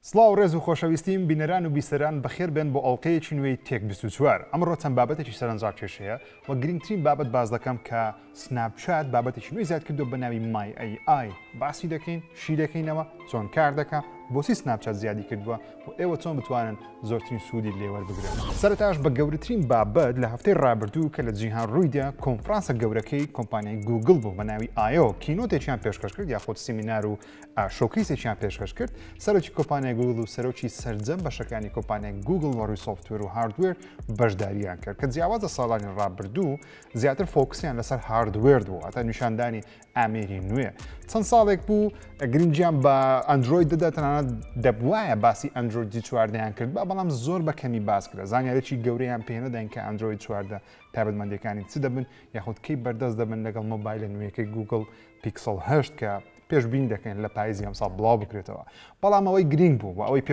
سڵاو ڕێز و خۆشەویستیم بینەران و بیسەران بەخێر بێن بۆ ئەڵقەیەکی نوێی تێک بیست و چوار ئەمڕۆ چەند بابەتێکی سەرەنجڕاکێش هەیە وە گرینگترین بابەت باس دەکەم کە سناپ چات بابەتێکی نوێی زیاد کردووە بەناوی مای ئەی ئای باسی دەکەین شی دەکەینەوە چۆن کار دەکا بۆچی سناپ چات زیادی کردووە و ئێوە چۆن بتوانن زۆرترین سوودی لێ وەربگرن سەرەتاش بە گەورەترین بابەت لە هەفتەی ڕابردوو کە لە جیهان ڕوویدا کۆنفرانسە گەورەکەی کۆمپانیای گووگڵ بوو بەناوی ئایۆ کینۆتێکیان پێشکەش کرد یاخود سیمینار و ە شۆکەیسێکیان پێشکەش کرد، سەرۆکی کۆمپانیای گووگڵ و سەرۆکی سەرجەم بەشەکانی کۆمپانیای گووگڵ وە ڕووی سۆفتوێر و هاردوێر بەشدارییان کرد کە جیاواز لە ساڵانی ڕابردوو زیاتر فۆکسیان لەسەر هاردوێر بوو هەتا نیشاندانی ئامێری نوێ چەند ساڵێک بوو گرنگیان بە ئەندرۆید دەدا تەنانەت دەبوایە باسی ئەندرۆیدی چواردەیان کرد بە بەڵام زۆر بە کەمی باس کرا زانیارێکی گەورەیان پێنەدەین کە ئەندرۆید چواردە تابەتمەندەکانی چ دەبن یاخود کەی بەردەست دەبن لەگەڵ مۆبایلە نوێەکەی گوگل پیکسڵ هەشت کە پێشبینی دەکەین لە پاییزی ئەمساڵ بڵاو بکرێتەوە بەڵام ئەوەی گرنگ بوو و ئەوەی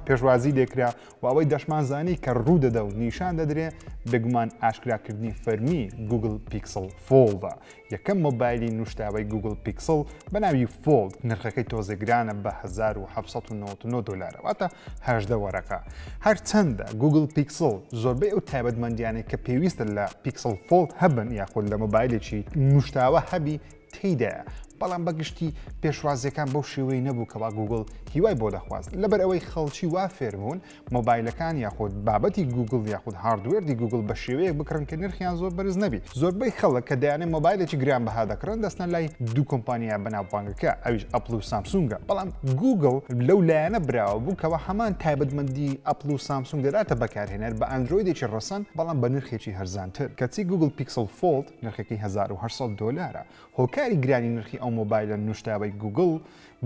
پێشوازی لێکرا و ئەوەی دەشمان زانی کە ڕوو دەدە و نیشان دەدرێ بێگومان ئاشکراکردنی فەرمی گوگل پیکسل فۆڵدا یەکەم مۆبایلی نوشتاوی گوگل پیکسل بە ناوی فۆڵد نرخەکەی تۆزێگرانە بە 1999 دلارەواتە هەشدە وەرەقە هەرچەندە گوگل پیکسل زۆربەی ئەو تایبەتمەندیانەی کە پێویستە لە پیکسل فۆڵد هەبن یاخود لە مۆبایلێکی نوشتاوە هەبی تێیدایە، بەڵام بە گشتی پێشوازیەکان بەو شێوەی نەبوو کەوا گووگڵ هیوای بۆ دەخواست، لەبەر ئەوەی خەڵکی وا فێربوون مۆبایلەکان یاخود بابەتی گووگڵ یاخود هاردوێردی گووگڵ بە شێوەیەک بکڕن کە نرخیان زۆر بەرز نەبی، زۆربەی خەڵک کە دەیانەوێت مۆبایلێکی گرانبەها دەکڕن دەچنە لای دوو کۆمپانیا بەناوبانگەکە ئەویش ئەپڵ و سامسونگە، بەڵام گووگڵ لەو لایەنە براوە بوو کەوا هەمان تایبەتمەندی ئەپڵ و سامسونگ دەداتە بەکارهێنەر بە ئەندرۆیدێکی ڕەسەن بەڵام بە نرخێکی هەرزانتر کەچی گووگڵ پیکسڵ فۆڵد نرخەکەی هەزار و هەشت سەد دۆلارە. هۆکاری گرانی نرخی ئەو مۆبایلە نوشتاوەی گووگڵ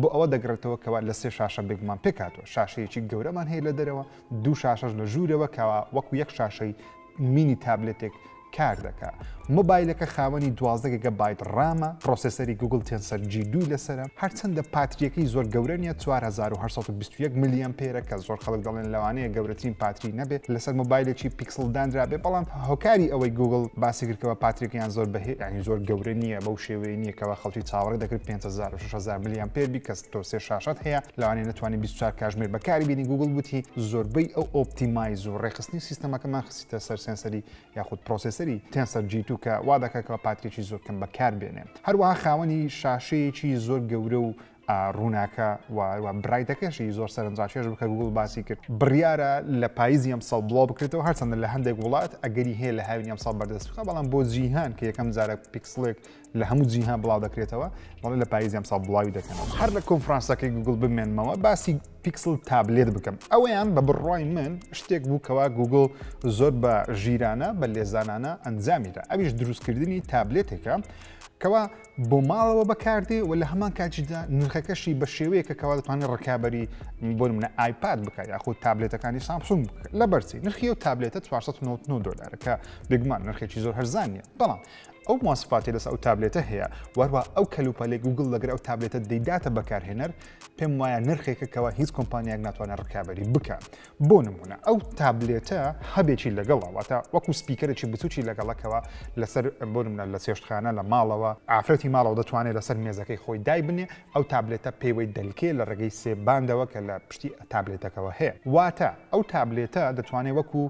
بۆ ئەوە دەگڕێتەوە کەوا لە سێ شاشە بێگومان پێکهاتووە، شاشەیەکی گەورەمان هەیە لە دەرەوە، دوو شاشەش لە ژوورەوە کەوا وەکو یەک شاشەی مینی تابلێتێک کار دەکا. مۆبایلەکە خاوەنی دوازدە گیگە بایت ڕامە، پرۆسێسەری گووگڵ تێنسەر جی دوو لەسەرە، هەرچەندە پاترییەکەی زۆر گەورە نییە، چوار هەزار و هەشت سەد و بیست و یەک ملی ئەمپێرە کە زۆر خەڵک دەڵێن لەوانەیە گەورەترین پاتری نەبێ لەسەر مۆبایلێکی کسڵ دانرابێ بەڵام هۆکاری ئەوەی گوگل باسی کردکەوە پاتریک یان زۆر بە ینی زۆر گەورە نییە بەو شێوەیە نییەکەوە خەڵکی چاوەڕێ دەکرد 500 600 ملیان پێبی کەس تۆ سێ شاشت هەیە لەوانێ نتوانانی 24 کاژمێر بەکاری بینی گوگل وتی زۆربەی ئەو ئۆپتیمایز و ڕێخستنی سیستەمەکەمان خسیتە سەر سنسەری یاخود پرۆسیسەری تێنسەر جیتو کە وا دەکەکەەوە پاتریکی زۆر کەم بەکار بێنێ هەروەها خاوەنی شاشەیەکی زۆر گەورە و ڕووناکە و برایتەکەشی زۆر سەرنجڕاکێش بوو کە گووگڵ باسی کرد بڕیارە لە پاییزی ئەمساڵ بڵاو بکرێتەوە هەرچەندە لە هەندێک وڵات ئەگەری هەیە لە هاوینی ئەمساڵ بەردەست بخە بەڵام بۆ جیهان کە یەکەم جارە پیکسڵێک لە هەموو جیهان بڵاو دەکرێتەوە بەڵێ لە پاییزی ئەمساڵ بڵاوی دەکەنەوە هەر لە کۆنفرانسەکەی گوگڵ بمێنمەوە باسی پیکسل تابلێت بکەم ئەویان بە بڕای من شتێک بوو کەوا گوگل زۆر بە ژیرانە بە لێزانانە ئەنجامیدا ئەویش دروستکردنی تابلێتێکە کەوا بۆ ماڵەوە بەکاردێ و لە هەمان کاتیشدا نرخەکەشی بە شێوەیەکە کەوا دەتوانێت ڕکابی بۆ منە ئایپاد بکات یاخود تابلێتەکانی سامسون لە بەرچی نرخی و تابلێتە 499 دلارەکە بگمان نرخێکی زۆر هەرزانە بەڵام ئەو ماسپاتی لەس ئەو تابلێتە هەیە وەروە ئەو کەلوپەلێک گوگل لەگەر ئەو تابلێتە دەیداتە بەکارهێنەر پێم وایە نرخێکە کەەوە هیچ کۆمپانیاک ناتوانە ڕکابی بکە بۆ نموونە ئەو تابلێتە هەبێکی لەگەڵە واتە وەکو سپیکەرێکی بچوکی لەگەڵەکەوە لەسەر بۆ نمونە لە چێشتخانە لە ماڵەوە ئافرەتی ماڵەوە دەتوانێت لەسەر مێزەکەی خۆی دایبنێ ئەو تابلێتە پێوەی دەلکێ لە ڕێگەی سێ باندەوە کە لە پشتی تابلێتەکەەوە هەیە واتە ئەو تابلێتە دەتوانێت وەکو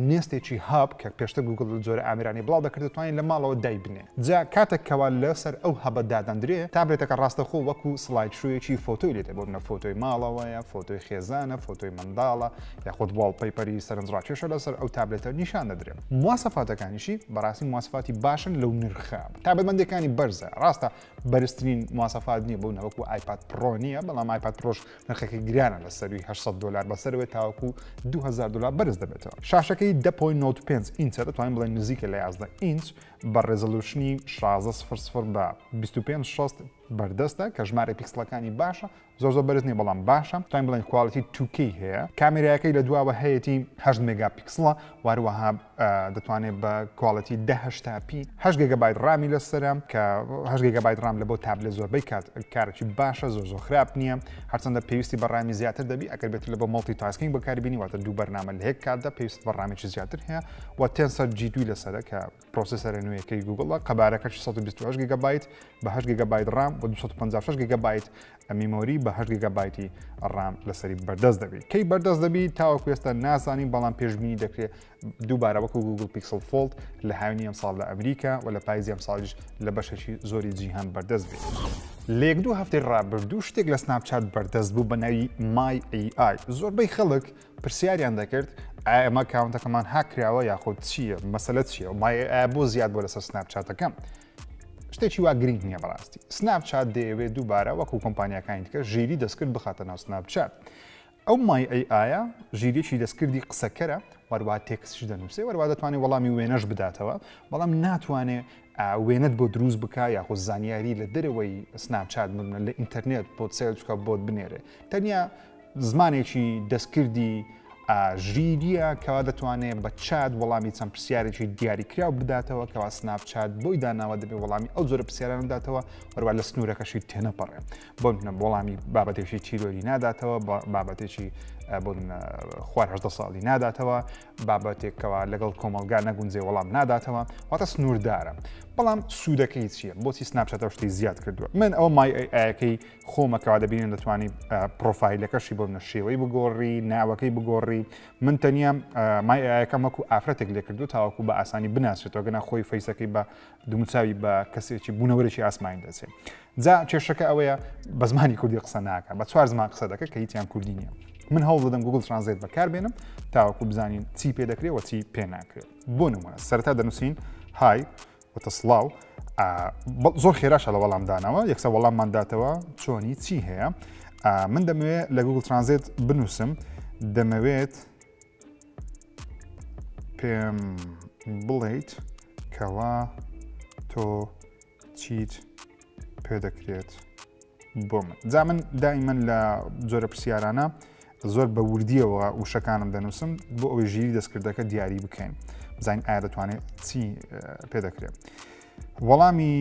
نێستێکی هاب کە پێشتە گوگل جۆرە ئامرانی بڵاو دەکرد دەتوانین لە ماڵەوە دایبنێ جا کاتەک کەوا لە سەر ئەو هەبە دادەندرێ، تابلێتەکە ڕاستەخۆ وەکو سڵاید شۆیەکی فۆتۆی لێ دەبۆرنە، فۆتۆی ماڵەوەیە، فۆتۆی خێزانە، فۆتۆی منداڵە، یاخود واڵپەیپەری سەرنجڕاکێشە لە سەر ئەو تابلێتە نیشان دەدرێ. مواسەفاتەکانیشی بەڕاستی مواسەفاتی باشن لەو نرخە تابەتمەندیەکانی بەرزە، ڕاستە بەرزترین مواسەفات نیە بەو نەوەکو ئایپاد پڕۆ نیە، بەڵام ئایپاد پڕۆش نرخەکەی گرانە لە سەروی هەشت سەد دۆلار بەسەرەوەی تاوەکو دوو هەزار دۆلار بەرز دەبێتەوە. شاشەکەی دە پۆینت نۆد پێنج ئینچە دەتوانین بڵێین نزیکە لە یازدە ئینچ، بە ڕێزۆلوشنی شازدە سفر سفر بە بیست و پێنج شەست بەردەستە کە ژمارە پیکسلەکانی باشە زۆر زۆر بەرز نیە بەڵام باشە توانین بڵێن کوالتی توکەی هەیە کامێراەکەی لە دواوە هەیەی هەشت مێگا پیکسڵە واروەها دەتوانێت بە کوالتی دههشتا پی هەش گەگەبایت ڕامی لەسرە کە هەش گەگەبایت ڕام لە بۆ تابلێ زۆربەی کات کارێکی باشە زۆر زۆر خراپ نییە هەرچەندە پێویستی بە ڕامی زیاتر دەبی ئەگەر بێت لە بۆ مڵتی تاسکینگ بەکاربینی واتە دوو بەرنامە لە هەیە کاتدا پێویست بە ڕامێکی زیاتر هەیە و تێنسەر جی دوی لەسەر کە پرۆسیسەرە نوێیەکەی گوگڵە قەبارەکە 628 گگبیت بەه گگبیت ڕام بە 256 گگبیت ئەمیمۆری بەه گگبیتی ڕام لەسەری بەردەست دەبیت کەی بەردەست دەبی تاوەکو ێستا نازانین بەڵام پێشببینی دەکرێت دووبارە وەکو گوگل پیکسل فۆلت لە هاوینی ئەم ساڵ لە ئەمریکا و لە پایزی ئەم ساڵیش لە بەشێکی زۆری جیهان بەردەست بێت. لێک دوو هەفتەی ڕابردوو شتێک لە سناپچات بەردەست بوو بە ناوی مای AI زۆربەی خەڵک پرسیاریان دەکرد ئایا ئەمە کاونتەکەمان هاک کراوە یاخود چییە مەسەلە چییە و مایە ئایا بۆ زیاد بۆ لەسەر سناپ چاتەکەم شتێکی وا گرنگ نییە بەڕاستی سناپ چات دەیەوێت دووبارە وەکو کۆمپانیەکانی دیکە ژیری دەستکرد بخاتە ناو سناپ چات ئەو مای ئەی ئایا ژیریی دەستکردی قسەکەرە وەروە تێکسش دەنووسێ وەروە دەتوانێت وەڵامی وێنەش بداتەوە بەڵام ناتوانێت وێنەت بۆ دروست بکە یاخۆ زانیاری لە دەرەوەی سناپ چات بمە لە ئینتەرنێت بۆ سێلچکە بۆت بنێرێ تەنیا زمانێکی دەستکردی ئاژیرییە کەوا دەتوانێت بە چات وەڵامی چەند پرسیارێکی دیاریکراو بداتەوە کەوا سناپ چات بۆی داناوە دەبێت وەڵامی ئەو جۆرە پرسیاران بداتەوە هەروە لە سنوورەکەشی تێنەپەڕێ بۆ منە وەڵامی بابەتێکی تیرۆری ناداتەوە بابەتێکی بۆن خوار هەدە ساڵی ناداتەوە بابەتێکەوە لەگەڵ کۆمەلگا نەگونجێ وەڵام ناداتەوە واتە سنووردارە بەڵام سوودەکەی چییە بۆچی سناپچاتە شتی زیاد کردووە من ئەو مایەکەی خۆمە کەوا دەبینن دەتوانی پرۆفایلەکەشی بۆ منە شێوەی بگۆڕی ناوەکەی بگۆڕی من تەنیا مای ئایەکەم وەکو ئافرەتێک لێکردو تاوەکو بە ئاسانی بناسێتەوە گەنا خۆی فەیسەکەی بە دومچوی بە کەسێکی بوونەوەرێکی ئاسمانی دەچێت جا کێشەکە ئەوەیە بە زمانی کوردی قسە ناکە بە چوار زمان قسە دەکە کە هیچیان کوردی نییە من هەوڵ دەدەم گوگل ترانزیت بەکار بێنم تاوەکو بزانین چی پێ دەکرێت وە چی پێ ناکرێت بۆ نمونە سەرتا دەنووسین های وتە سڵاو زۆر خێراشە لە وەڵام دانەوە یەکسە وەڵاممان داتەوە چۆنی چی هەیە من دەمەوێت لە گوگل ترانزێت بنووسم دەمەوێت پێم بڵیت کەوا تۆ چیت پێدەکرێت بۆ من جا من دایمەن لە جۆرە پرسیارانە زۆر بە وردیەوە وشەکانم دەنووسم بۆ ئەوەی ژیری دەستکردەکە دیاری بکەین بزانین ئایا دەتوانێت چی پێ دەکرێت وەڵامی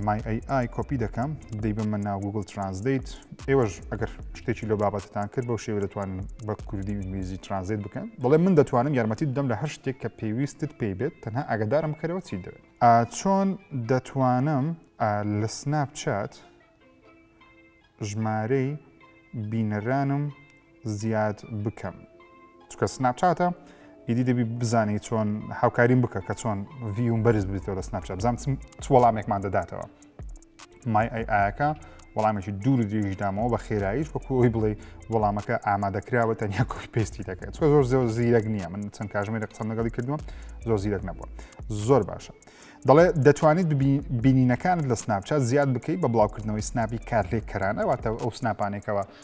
مای ئەی ئای کۆپی دەکەم دەی بە من ناو گوگل ترانزدەیت ئێوەش ئەگەر شتێکی لە بابەتتان کرد بەو شێوە دەتوان بە کوردی ئینگلیزی ترانزیت بکەن بڵێ من دەتوانم یارمەتی دەم لە هەر شتێک کە پێویستت پێی بێت تەنها ئاگدارم کەرەوە چی دەوێت ئا چۆن دەتوانم ئا لە سناپ چات ژمارەی بینەرانم زیاد بکەم چکە سناپ چاتە ئیدی دەبی بزانی چۆن هاوکاریم بکە کە چۆن ڤیوم بەرز بێتەوە لە سناپ چات بزانم چ وەڵامێکمان دەداتەوە مای ئەی ئایەکە وەڵامێکی دوور و درێژی دامەوە بە خێراییش وەکو ئەوی بڵێ وەڵامەکە ئامادەکراوە تەنیا کۆی پێستی دەکرێت چۆ زۆر زۆر زیرەک نییە من چەند کاژمێرە قسەم لەگەڵی کردووە زۆر زیرەک نەبووە زۆر باشە. دەڵێ دەتوانیت بینینەکانت لە سناپچات زیاد بکەیت بە بڵاوکردنەوەی سناپی کارلێک کەرانەواتە ئەو سناپانێکەوە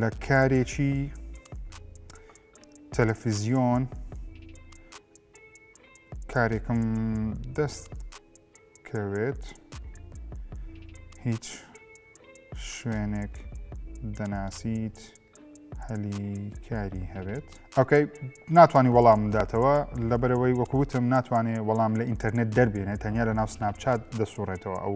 لە کارێکی تەلەفزیۆن کارێکم دەست کەوێت هیچ شوێنێک دەناسیت هەلی کاری هەبێت ئەوکەی ناتوانانی وەڵام داتەوە لەبەرەوەی وەکوتم ناتوانێت وەڵام لە ئینتەرنێت دەربێنێت تەنیا لە ناو سناپچات دەسوڕێتەوە ئەو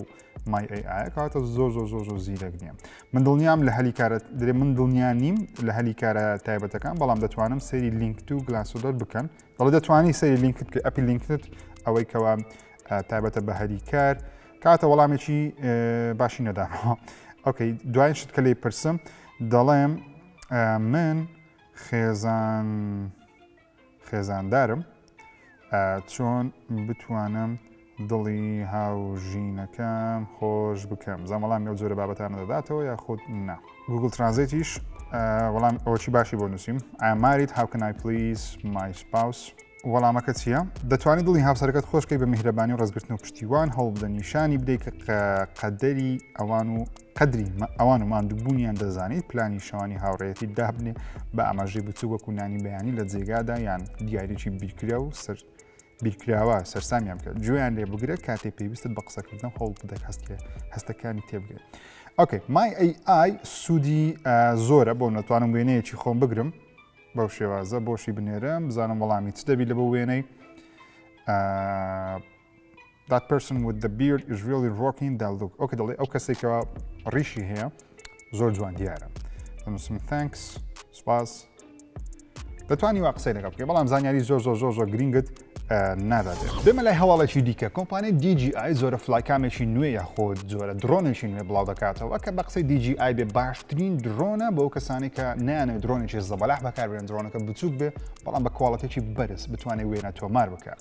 مای ئەی ئایا کاتە زۆر زۆر زۆر زۆر زیرەک نییە من دڵنیام لە هەلی کارە درێ من دڵنیا نیم لە هەلی کارە تایبەتەکان بەڵام دەتوانم سەیری لینکت و گلاسۆدەر بکەن دەڵێ دەتوانانی سەیری لینکت کە ئەپی لینکت ئەوەی کەوا تایبەتە بە هەلی کار کاتە وەڵامێکی باشی نەداەوە ئۆکەی دوای شت کە لی پرسم دەڵێم من خێزان خێزاندارم چۆن بتوانم دڵی هاوژینەکەم خۆش بکەم زان وەڵامی ئەو جۆرە بابەتانە دەداتەوە یا خۆت نا گوگل ترانزیتیش وەڵام ئەوچی باشی بۆ نووسیم ئاماریت هاوکنای پلیس مای سپاوس وەڵامەکە چییە دەتوانانی دڵی هاوسەرەکەت خۆشکەی بە میهرەبانی و ڕزگرتن و پشتیوان هەوڵ بدە نیشانی بدەیت کە قەدەری ئەوان و قەدری ئەوان و ماندووبوونیان دەزانیت پلانی شەوانی هاوڕێتی دابنێ بە ئاماژەی بچوو وەکو نانی بەیانی لە جێگادا یان دیارێکی بیرکرا و سەر بیرکراوە سەرسامیان بکە جویان لێ بگرە کاتێ پێویستت بە قسەکردن هەوڵ بدەک هەست لێ هەستەکانی تێبگرێت ئۆکەی مای ئەی ئای سوودی زۆرە بۆ نەتوانم وێنەیەکی خۆم بگرم بەو شێوازە بۆشی بنێرم بزانم وەڵامی چ دەبی لە بۆ وێنەی That person with the beard is really rocking that look. ئەو کە دەڵێ ئەو کەسێک کە ڕیشی هەیە زۆر جوان دیارە. دەنووسم thanks سپاس. دەتوانی وا قسەی لەگەڵ بکەی بەڵام زانیاری زۆر زۆر زۆر زۆر گرینگت نادات بێمە لای هەواڵێکی دیکە کۆمپانی DGI زۆرە فلایکامێکی نوێ یاخۆ زۆرە درۆنێکی نوێ بڵاو دەکاتەوە کە بە قسەی DGI بێ باشترین درۆنە بۆ کەسانی کە نیانە درۆنێکی زەبەلاح بەکاربێن درۆنەکە بچووک بێ بەڵام بە کواڵەتێکی بەرز بتوانێت وێنە تۆمار بکات.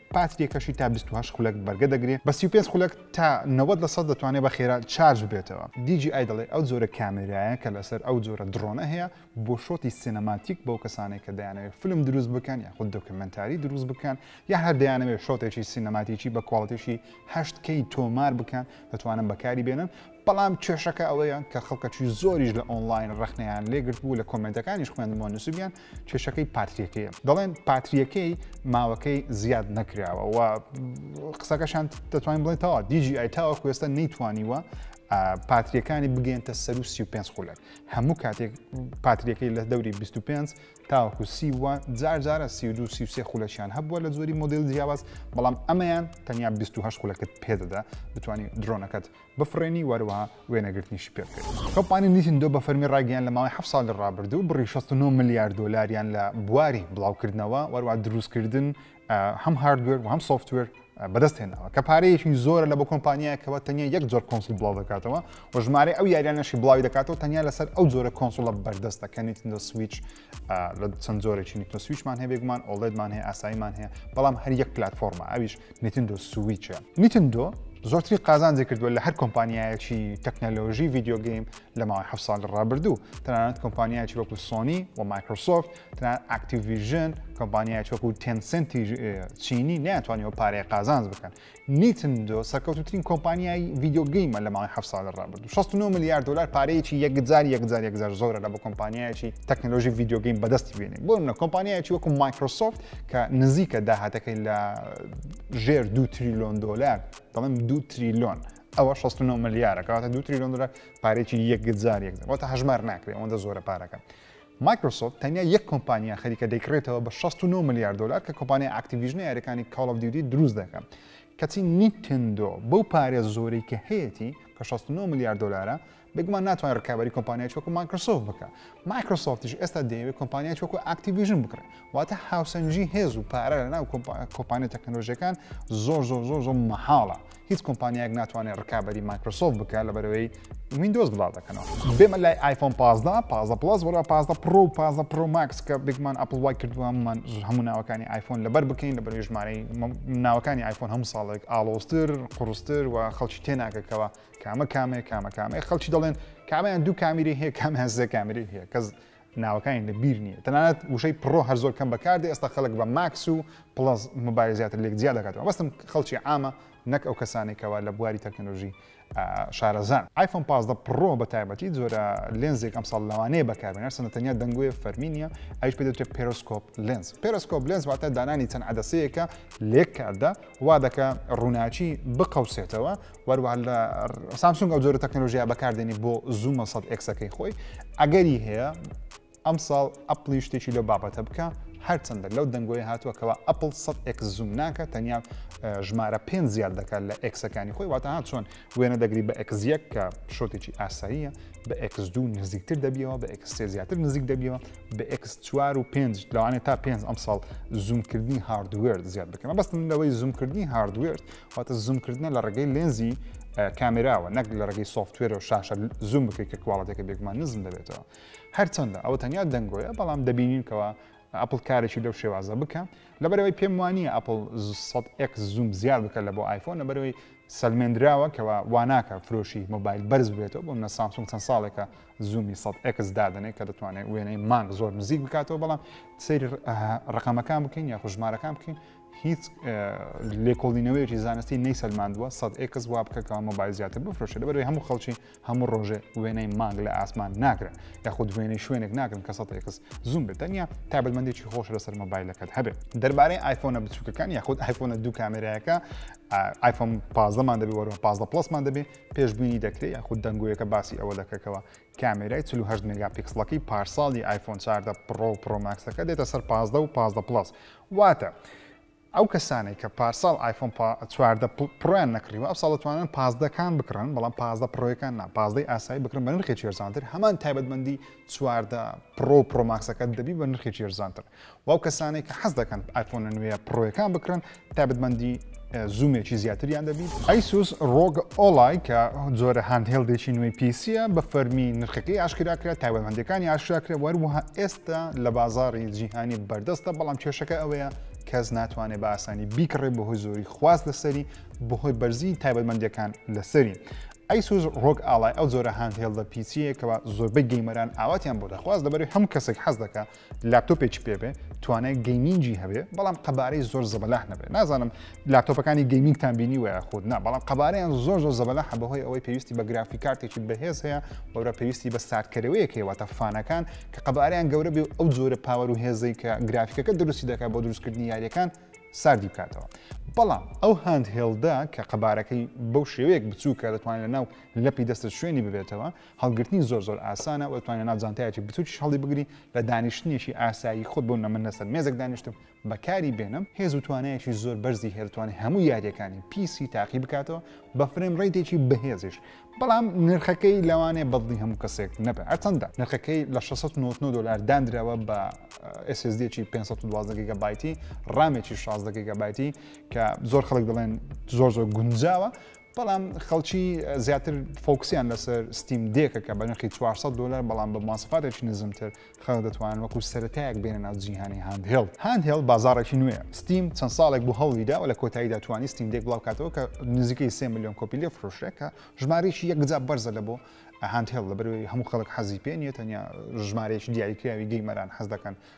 باتریەکەشی تا بیست و هەشت خولەک بەرگە دەگرێ بە سی و پێنج خولەک تا نەوەد لە سەد دەتوانێ بە خێرا چارج ببێتەوە. دی جی ئای دەڵێ ئەو جۆرە کامێرایە کە لەسەر ئەو جۆرە دڕۆنە هەیە بۆ شۆتی سینەماتیک بۆ کەسانێک کە دەیانەوێ فلم دروست بکەن یاخود دۆکیومێنتاری دروست بکەن یان هەر دەیانەوێ شۆتێکی سینەماتیکی بە کواڵتیی هەشت کەی تۆمار بکەن دەتوانن بەکاری بێنن بەڵام کێشەکە ئەوەیە کە خەڵکەکی زۆریش لە ئۆنڵاین ڕەخنەیان لێ گرتبوو لە کۆمێنتەکانیش خوێندمەوە نووسیبیان کێشەکەی پاتریەکەیە دەڵێن پاتریەکەی ماوەکەی زیاد نەکراوە و قسەکەشان دەتوانین بڵێن تاوا دیجی ئای تاوە کوێستە نەیتوانیوە پاتریەکانی بگەێنتە سەر و 35 خولەک هەموو کاتێک پاتریەکەی لە دەوری 25 تاوەکو سی وە جار جارە سی دو سی خولەکیان هەبووە لە زۆری مۆدیل جیاواز بەڵام ئەمەیان تەنیا 28 خولەکەت پێدەدا بتانی درۆنەکەت بفڕێنی وهەروەها وێنەگرتنیشی پێ بکەی. کۆمپانی نیتندۆ بە فەرمی ڕایگەیاند لە ماوەی حەفت ساڵی ڕابردوو بڕی شەست و نۆ ملیار دۆلاریان لە بواری بڵاوکردنەوە وهەروەها دروستکردن هەم هاردوێر وهەم سۆفتوێر بەدەست هێناوە کە پارەیەکی زۆرە لە بۆ کۆمپانیایەکەوە تەنیا یەک جۆر کۆنسڵ بڵاو دەکاتەوە و ژمارەی ئەو یاریانەشی بڵاوی دەکاتەوە تەنیا لەسەر ئەو جۆرە کۆنسڵە بەردەستە کە نیتندۆ سویچ لە چەند جۆرێکی نیتۆ سویچمان هەیە بێگومان ئۆڵێدمان هەیە ئاساییمان هەیە بەڵام هەر یەک پلتفۆرمە ئەویش نتندۆ سویچە نتندۆ زۆرتری قازانجی کردووە لە هەر کۆمپانیایەکی تەکنەلۆژی ڤیددیوگەیم لە ماوەی ه سال ڕابردوو تەنانەت کۆمپانیایکی وەکو سۆنی و مایکرۆسۆفت تەنان ئاکتیڤژن کۆمپانیایکی وەکو تێنسنتی چینی ناتوانانی و پارەیە قازانج بکەن نیتندۆ سەرکەوتووترین کۆمپانیای ڤیدیۆ گەیمە لە ماوەی هەفت ساڵی ڕابردوو 69 ملیار دلار پارەیەکی یەکجار یەکجار یەکجار زۆرە لە بۆ کۆمپانیایەکی تەکنەلۆژی ڤیدیۆ گەیم بەدەستی بێنێت بۆ منە کۆمپانیایەکی وەکو مایکرۆسۆفت کە نزیکە داهاتەکەی لە ژێر دو تریلۆن دلار دەڵێم دو تریلۆن ئەوە 69 ملیارە کەواتە دو تریلۆن دلار پارێکی یەکجار یەکجار واتە هەژمار ناکرێت ئەوەندە زۆرە پارەکە مایکرۆسۆفت تەنیا یەک کۆمپانیا خەریکە دەیکڕێتەوە بە شەست و نۆ ملیار دۆلار کە کۆمپانیای ئاکتیڤیژنە یاریەکانی کاڵ ئۆف دیوتی دروست دەکا کەچی نیتندۆ بەو پارێ زۆرەی کە هەیەتی کە شەست و نۆ ملیار دۆلارە بێگومان ناتوانێت ڕکابەری کۆمپانیای چۆکو مایکرۆسۆفت بکە مایکرۆسۆفتیش ئێستا دەیەوێت کۆمپانیای چۆکو ئاکتیڤیژن بکڕێت واتە هاوسەنگی هێز و پارە لە ناو کۆمپانیە تەکنەلۆژیەکان زۆر زۆر زۆر زۆر مەحاڵە هیچ کۆمپانیایەک ناتوانێت ڕکابی مایکرۆسۆف بکە لە بەرەوەی وینندۆز بڵاو دەکەنەوە بێمە لای آیفۆن 15 15 پلس وەرا 15 پرۆ و 15 پرۆ ماکس کە بگمان ئەپل وای کردووەمان هەموو ناوەکانی آیفۆن لەبەر بکەین لە بەروی ژمارەی ناوەکانی آیفۆن هەموو ساڵێک ئاڵۆستر قڕستر و خەڵکی تێناکەکەوە کامە کامێ کامە کامێ خەڵکی دەڵێن کامیان دوو کامیری هەیە کامیان سێ کامیری هەیە کەس ناوەکانی لە بیر نییە تەنانەت وشەی پڕۆ هەر زۆر کەم بەکاردێ ئێستا خەڵک بە ماکس و پڵەس مۆبایل زیاتر لێک جیا دەکاتەوە بەستم خەڵکی عامە نەک ئەو کەسانێک کەوا لە بواری تەکنەلۆژی شارەزان ئایفۆن پازدە پڕۆ بە تایبەتی جۆرە لێنزێک ئەم ساڵ لەوانەیە بەکاربێن هەرچەندە تەنیا دەنگۆیە فەرمی نیە ئەوش پێ دەوترێت پێرۆسکۆپ لێنز پێرۆسکۆپ لێنز واتە دانانی چەند عەدەسەیەکە لێک کاردا وا دەکە ڕووناچی بقەوسێتەوە وەروە لە سامسونگ ئەو جۆرە تەکنەلۆژیا بەکاردێنی بۆ زوومە سەد ئەکسەکەی خۆی ئەگەری هەیە ئەم ساڵ ئەپلی شتێکی لەو بابەتە بکە هەرچەندە لەو دەنگۆی هاتووە کەەوە ئەپل سەد ئەکس زووم ناکە تەنیا ژمارە پێ زیاد دەکات لە ئەکسەکانی خۆی واتەها چۆن وێنە دەگری بە ئەکزیەک کە شۆتێکی ئاساییە بە ئەکس دوو نزیکتر دەبیەوە بە ئەکسێ زیاتر نزیک دەبیەوە بە ئەکس چوار و پێنج لەوانێت تا پێنج ئەم ساڵ زوومکردنی هاردوێرد زیاد بکەمە بەستم لەوەی زوومکردنی هاردوێرد واتە زووم کردنە لە ڕێگەی لێنزی کامێراوە نەک لە ڕێگەی سوفتوێرە و شاشە زووم بکەیت کە کوواڵەتەکە بێگومان نزم دەبێتەوە هەرچەندە ئەوە تەنیا دەنگۆیە بەڵام دەبینینکەوە ئەپل کارێکی لەو شێوازە بکە لەبەرەوەی پێم وانە ئەپل ئەک زووم زیاد بکە لە بۆ آیفۆن لەبەرەوەی سەلمێنراوە کەەوە واناکە فرۆشی مۆبایل بەرز بێتەوە بۆ منە سامسونگ چەند ساڵێکە زوومی سە ئەکس دادنێ کە دەتوانێت وێنەی مانگ زۆر نزیک بکاتەوە بەڵام سری ڕقەمەکان بکەین یا خوژمارەکان بکەین هیچ لێکۆڵینەوەیەکی زانستی نەیسەلماندووە سەد ئێکس وا بکە کەوا مۆبایل زیاتر بفرۆشێت لەبەرەوەی هەموو خەڵکی هەموو ڕۆژێ وێنەی مانگ لە ئاسمان ناگرن یاخود وێنەی شوێنێک ناگرن کە سەد ئێکس زوم بێت تەنیا تابلمەندێکی خۆش لەسەر مۆبایلەکەت هەبێت دەربارەی ئایفۆنە بچووکەکان یاخود ئایفۆنە دوو کامێرایەکە ئایفۆن پازدەمان دەبێت وەرەوە پازدە پلسمان دەبێت پێشببینی دەکرێت یاخود دەنگۆیەکە باسی ئەوە دەکەکەوە کامێرای 48 مگا پیکسلەکەی پارساڵی ئایفۆن چاردە پڕۆ پرۆماکسەکە دێتە سەر پازدە و پازدە پلس واتە ئەو کەسانەی کە پارساڵ ئایفۆن چواردە پڕۆیان نەکڕیوە ئەو ساڵ دەتوانن پازدەکان بکڕن بەڵام پازدە پڕۆیەکان نا پازدەی ئاسایی بکڕن بە نرخێکی هێرزانتر هەمان تایبەتمەندی چواردە پڕۆ و پڕۆماکسەکە دەبی بە نرخێکی هێرزانتر و ئەو کەسانەی کە حەز دەکەن ئایفۆنە نوێە پڕۆیەکان بکڕن تایبەتمەندی زوومێکی زیاتریان دەبیت. ئەیسوس ڕۆگ ئۆڵای کە جۆرە هاندهێڵدێکی نوێی پیسیە بە فەرمی نرخەکەی ئاشکراکرا تایبەتمەندەکانی ئاشکراکرێ وەروەها ئێستا لە بازاری جیهانی بەردەستە بەڵام کێشەکە ئەوەیە کەس ناتوانێت بە ئاسانی بیکڕێ بەهۆی زۆری خواست لەسەری بەهۆی بەرزی تایبەتمەندەکان لەسەری ئەیسوز ڕۆک ئاڵای ئەو جۆرە هاندهێڵدە پیسیە کەەوە زۆربەی گەیمەران ئاواتیان بۆ دەخواست لەبەری هەم کەسێک حەز دەکە لاپتۆپێکی پێبێ توانای گەیمینگی هەبێ بەڵام قەبارەی زۆر زەبەلاح نەبێت نازانم لاپتۆپەکانی گەیمینگتان بینی وە خود نا بەڵام قەبارەیان زۆر زۆر زەبەلاح بەهۆی ئەوەی پێویستی بە گرافی کارتێکی بەهێز هەیە وەرە پێویستی بە ساردکەرەوەیەک هەیەواتە فانەکان کە قەبارەیان گەورە بێ ئەو جۆرە پاوەر و هێزەی کە گرافیکەکە دروستی دەکات بۆ دروستکردنی یاریەکان ساردی بکاتەوە بەڵام ئەو هاند هێڵدا کە قەبارەکەی بەو شێوەیەک بچووکە دەتوانێت لە ناو لەپی دەستە شوێنی ببێتەوە هەڵگرتنی زۆر زۆر ئاسانە وە توانێ ناو جانتایەکی بچوکیش هەڵی بگری لە دانیشتنێکی ئاسایی خۆت بۆ نەمن لەسەر مێزێک دانیشتم بەکاری بێنم هێز و توانایەکی زۆر بەرزی هێرتوانی هەموو یاریەکانی پیسی تاقی بکاتەوە بە فرێم ڕیتێکی بەهێزیش بەڵام نرخەکەی لەوانێ بەدڵی هەموو کەسێک نەبێ ئەرچەندە نرخەکەی لە 699 دلار دانراوە بە SSDێکی 512 گگە بایتی ڕامێکی 16 گگە بایتی کە زۆر خەڵک دەڵێن زۆر زۆر گونجاوە بەڵام خەڵکی زیاتر فۆکسیان لەسەر ستیم دێکە کە بە نرخی 400 دلار بەڵام بە ماسفاتێکی نزمتر خەڵک دەتوانن وەکو سەرەتایەک بێنە ناو جیهانی هاندهێڵ هاندهێڵ بازارێکی نوێ ستیم چەند ساڵێک بۆ هەوڵیدا و لە کۆتاییدا توانی ستیم دێک بڵاوکاتەوە کە نزیکەی سێ میلیۆن کۆپی لێ فرۆشرێ کە ژمارەیەکی یەکجا بەرزە لە بۆ هاندهێڵ لەبەروی هەموو خەڵک حەزی پێ نیە تەنیا ژمارەیەکی دیاریکراوی گەیمەران حەز دەکەن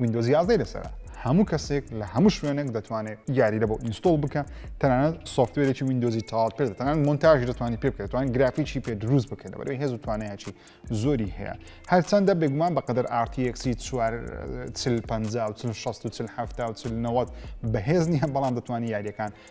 ویندۆز یازدەی لەسەرە هەموو کەسێک لە هەموو شوێنێک دەتوانێت یاریرە بۆ ئینستۆڵ بکە تەنانەت سوفتوێرێکی ویندۆزی تاڵ پێ تەنان مۆنتاژ دەتوانانی پێ بکەێتوان گرافیکی پێ دروست بکەن بەرەوەی هێز و توانەیەکی زۆری هەیە هەرچەندە بێگومان بەقدر ئارتیەکسی چوار چل پ و چل شست و چل هەفتا و چل نەوەت بەهێز نییە بەڵام دەتوانانی یاریەکان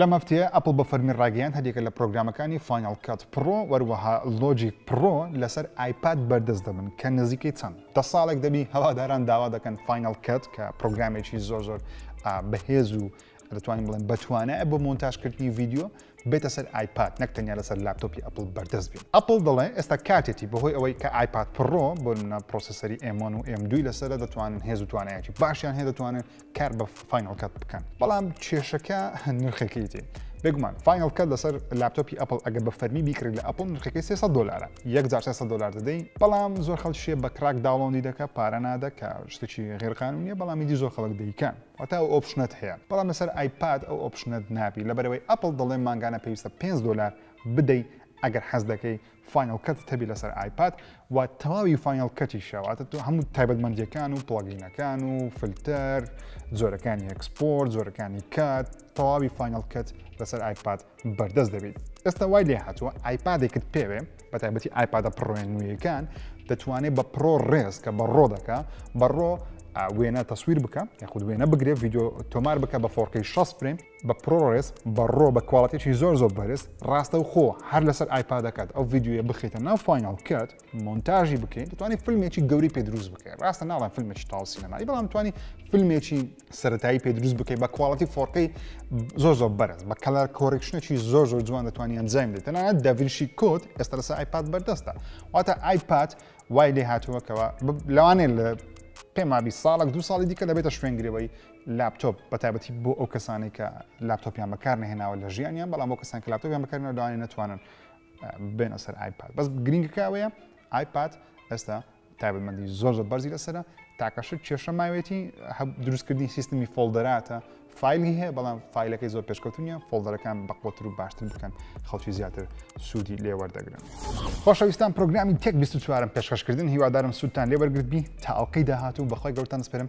لەم هەفتەیە ئەپڵ بە فەرمی ڕایگەیاند هەریەکە لە پرۆگرامەکانی فایناڵ کات پڕۆ وەروەها لۆجیک پڕۆ لەسەر ئایپاد بەردەست دەبن کە نزیکەی چەند دە ساڵێک دەبی هەواداران داوا دەکەن فایناڵ کات کە پرۆگرامێکی زۆر زۆر بەهێز و دەتوانین بڵێن بەتوانایە بۆ مۆنتاژکردنی ڤیددیو بێتە سەر ئایپاد نەک تەنیا لەسەر لاپتۆپی ئەپل بەردەست بێت ئەپل دەڵێ ئێستا کاتێتی بەهۆی ئەوەی کە ئایپاد پڕۆ بۆ منە پرۆسیسەری ئێمۆن و ئێم دوی لەسەر دەتوانن هێز و توانایەتی باشیان هەیە دەتوانن کار بە فاینەڵ کات بکەن بەڵام کێشەکە نرخەکەی تێ بێگومان فاینەڵ کات لەسەر لاپتۆپی ئەپل ئەگە بە فەرمی بیکرێت لە ئەپل نرخەکەی 300 دلارە یەک جار 300 دلار دەدەین بەڵام زۆر خەڵکیە بە کراک داوڵندی دەکە پارە نادە کە شتێکی غێرقانونیە بەڵامی دی زۆر خەڵک دەیکەن وەتا ئەو ئۆپشنت هەیە بەڵام لەسەر ئایپاد ئەو ئۆپشنت نابی لەبەرەوەی ئەپل دەڵێ مانگانە پێویستە 5 دلار بدەی ئەگەر حەز دەکەی فاینەڵ کەتت هەبی لەسەر ئایپاد و تەواوی فاینەڵ کەتیشە واتە تۆ هەموو تایبەتمەندیەکان و پڵگینەکان و فلتەر زۆرەکانی ئەکسپۆرت زۆرەکانی کات تەواوی فاینەڵ کەت لەسەر ئایپاد بەردەست دەبیت ئێستا وای لێ هاتووە ئایپادێکت پێوێ بە تایبەتی ئایپادە پڕۆێن نوێیەکان دەتوانێت بە پرۆ ڕێز کە بە ڕۆ دەکە بە ڕۆ وێنە تەسویر بکە یاخود وێنە بگرێت یددیو تۆمار بکە بە فۆرقی 6 فرێن بە پرۆرێس بە ڕۆ بە کواڵەتێکی زۆر زۆر بەرز ڕاستە و خۆ هەر لەسەر ئایپادەکەت ئەو ڤیددیوە بخیتە ناو فینال کات مۆنتاژی بکەین دەتوانانی فیلمێکی گەوری پێ دروست بکەین ڕاستە ناڵێن فیلمێکی تاڵ سینەمایی بەڵام توانی فیلمێکی سەتایی پێ دروست بکەیت بە کواڵەتی فۆرقی زۆر زۆر بەرز بە کەلار کۆرێکشنێکی زۆر زۆر جوان دەتوانانی ئەنجام بدەیت تەنانەت دەڤینشی کۆت ئێستا لەسەر ئایپاد بەردەستە واتە ئایپاد وای لێ هاتووەکەوە لەوانێ لە پێمابی ساڵک دو ساڵی دیکە دەبێتە شوێنگرەوەی لاپتۆپ بەتایبەتی بۆ ئەو کەسانەی کە لاپتۆپیان بەکار نهێناوە لە ژیانیان بەڵام بۆ کەسان کە لاپتۆپیان بەکارنا دوانێ نتوانن بێنە سەر ئایپاد بەس گرنگکەوەیە ئایپاد ئێستا تایبەتمەندی زۆر زۆر بەرزی لەسرە تاکەش کێشە ماوێتی دروستکردنی سیستمی فۆلدەراتە فیلی هەیە بەڵام فیلەکەی زۆر پێشکەوتنیە فۆلدەرەکان بەقوتر و باشتر بکەن خەڵکی زیاتر سوودی لێوەردەگرن خۆشەویستان پرۆگرامی تێک 24 پێشکەشکردن هیوادارم سوودتان لێوەرگرت بی تا ئەڵلقەی داهات و بەخوای گەورتان دەسپێرم